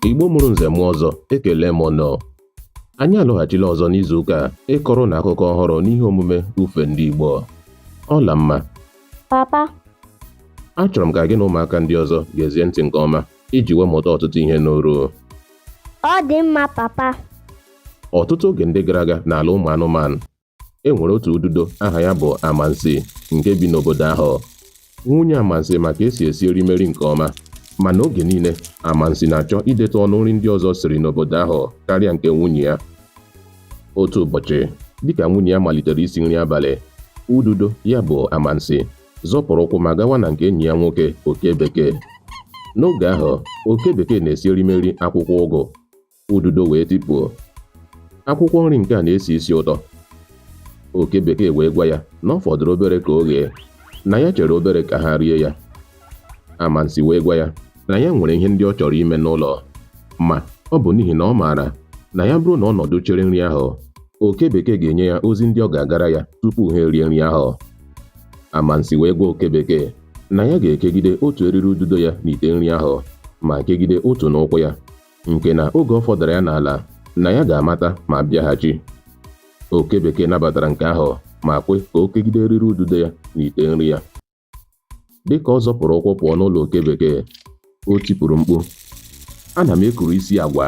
Igbo mụrụ nze mụọ ọzọ ekele m ụnụ anyị alọghachila ọzọ n'izu ụka a ịkọrọ ụnụ akụkọ ọhụrụ n'ihe omume ufe ndị Igbo Ọlamma papa achọrọ m ka gị na ụmụaka ndị ọzọ gezie ntị nke ọma iji wee mụta ọtụtụ ihe n'uru ọ dị mma papa ọtụtụ oge ndị gara aga n'ala ụmụ anụmanụ e nwere otu ududo aha ya bụ Amansi nke bi n'obodo ahụ nwunye Amansi ma ka e si esi erimeri nke ọma mana oge niile Amansi na-achọ idetụ ọnụ nri ndị ọzọ siri n'obodo ahụ karịa nke nwunye ya otu ụbọchị dịka nwunye ya malitere isi nri abalị ududo ya bụ Amansi zọpụrụ ụkwụ ma gawa na nke enyi ya nwoke oke bekee n'oge ahụ oke bekee na-esi erimeri akwụkwọ ụgụ ududo wee tipuo akwụkwọ nri nke a na-esi isi ụtọ oke bekee wee gwa ya na ọ fọdụrụ obere ka o ghee na ya chere obere ka ha rie ya amansi wee gwa ya na ya nwere ihe ndị ọ chọrọ ime n'ụlọ ma ọ bụ n'ihi na ọ maara na ya bụrụ na ọ nọdụ chere nri ahụ oke bekee ga-enye ya ozi ndị ọ ga-agara ya tupu ha erie nri ahụ amansi wee gwa oke bekee na ya ga-ekegide otu eriri ududo ya n'ite nri ahụ ma kegide otu n'ụkwụ ya nke na oge ọ fọdara ya n'ala na ya ga-amata ma bịaghachi. Oke bekee nabatara nke ahụ ma kwe ka o kegide eriri ududo ya n'ite nri ya. Dị ka ọ zọpụrụ ụkwụ pụọ n'ụlọ oke bekee, o tipụrụ mkpu, Ana m ekuru isi agwa!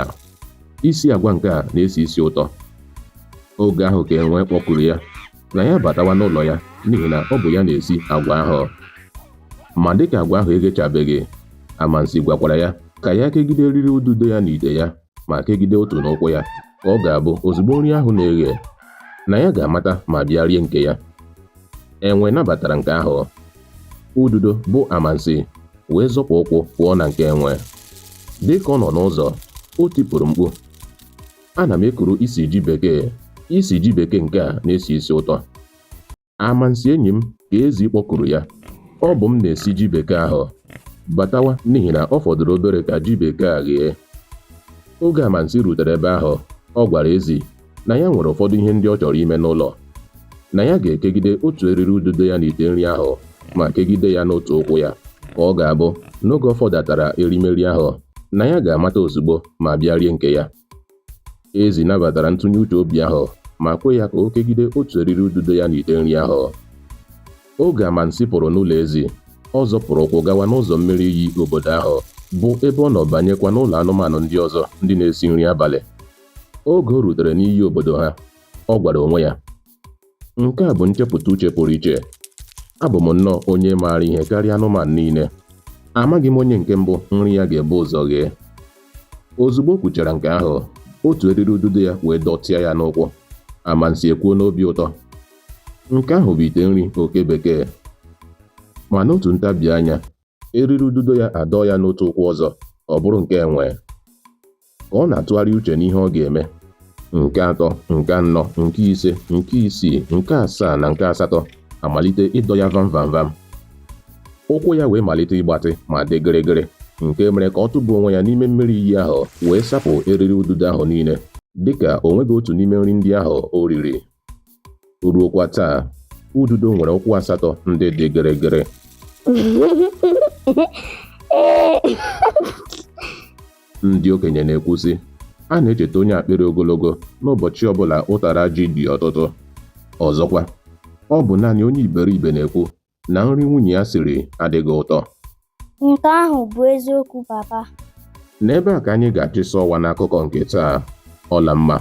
Isi agwa nke a na-esi isi ụtọ. Oge ahụ ka enwe kpọkuru ya. na ya batawa n'ụlọ ya n'ihi na ọ bụ ya na-esi agwa ahụ ma dịka agwa ahụ eghechabeghị amansi gwakwara ya ka ya kegide eriri ududo ya n'ite ya ma kegide otu n'ụkwụ ya ka ọ ga-abụ ozugbo nri ahụ na-eghe na ya ga-amata ma bịa rie nke ya enwe nabatara nke ahụ ududo bụ amansi wee zọpụ ụkwụ pụọ na nke enwe dịka ọ nọ n'ụzọ o tipụrụ mkpu Ana m ekuru isi ji bekee. Isi ji bekee nke a na-esi isi ụtọ. Amansi enyi m ka ezi kpọkuru ya. Ọ bụ m na-esi ji bekee ahụ. Batawa n'ihi na ọ fọdụrụ obere ka ji bekee a ghee. Oge Amansi rutere ebe ahụ, ọ gwara ezi na ya nwere ụfọdụ ihe ndị ọ chọrọ ime n'ụlọ. na ya ga-ekegide otu eriri ududo ya n'ite nri ahụ ma kegide ya n'otu ụkwụ ya ka ọ ga-abụ n'oge ọ fọdatara erimeri ahụ na ya ga-amata ozugbo ma bịa rie nke ya ezi nabatara ntụnye uche obi ahụ ma kwe ya ka o kegide otu eriri ududo ya n'ite nri ahụ oge amansi pụrụ n'ụlọ ezi ọ zọpụrụ ụkwụ gawa n'ụzọ mmiri iyi obodo ahụ bụ ebe ọ nọ banyekwa n'ụlọ anụmanụ ndị ọzọ ndị na-esi nri abalị oge o rutere n'iyi obodo ha ọ gwara onwe ya nke a bụ nchepụta uche pụrụ iche abụ m nnọọ onye maara ihe karịa anụmanụ niile amaghị m onye nke mbụ nri ya ga-ebu ụzọ ghee ozugbo o kwuchara nke ahụ otu eriri ududo ya wee dọtịa ya n'ụkwụ anansi ekwuo n'obi ụtọ nke ahụ bụ ite nri oke bekee ma n'otu ntabi anya eriri ududo ya adọọ ya n'otu ụkwụ ọzọ ọ bụrụ nke enwe ka ọ na-atụgharị uche n'ihe ọ ga-eme nke atọ nke anọ nke ise nke isii nke asaa na nke asatọ amalite ịdọ ya vam vam vam ụkwụ ya wee malite ịgbatị ma dị gịrịgịrị nke mere ka ọ tụba onwe ya n'ime mmiri iyi ahụ wee sapụ eriri ududo ahụ niile dịka o nweghị otu n'ime nri ndị ahụ o riri ruokwa taa ududo nwere ụkwụ asatọ ndị dị gịrịgịrị ndị okenye na-ekwu sị a na-echeta onye akpịrị ogologo n'ụbọchị ọbụla ụtara ji dị ọtụtụ ọzọkwa ọ bụ naanị onye iberibe na-ekwu na nri nwunye ya siri adịghị ụtọ. Nke ahụ bụ eziokwu papa. N'ebe a ka anyị ga-achịsa ọwa n'akụkọ nke taa. Ọlamma,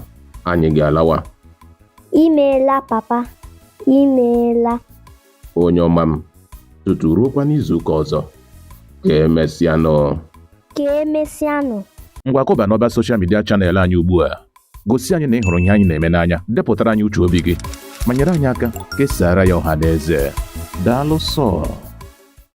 anyị ga-alawa. Imeela papa, imeela. Onye ọma m, tutu ruokwa n'izuụka ọzọ. Ka emesịanụ. Ka emesịanụ. Ngwa kụba n'ọba soshal midia chanel anyị ugbu a. Gosi anyị na ị hụrụ ihe anyị na-eme n'anya, depụtara anyị uche obi gị, ma nyere anyị aka kesaara ya ọha na eze. Daalụ sọ.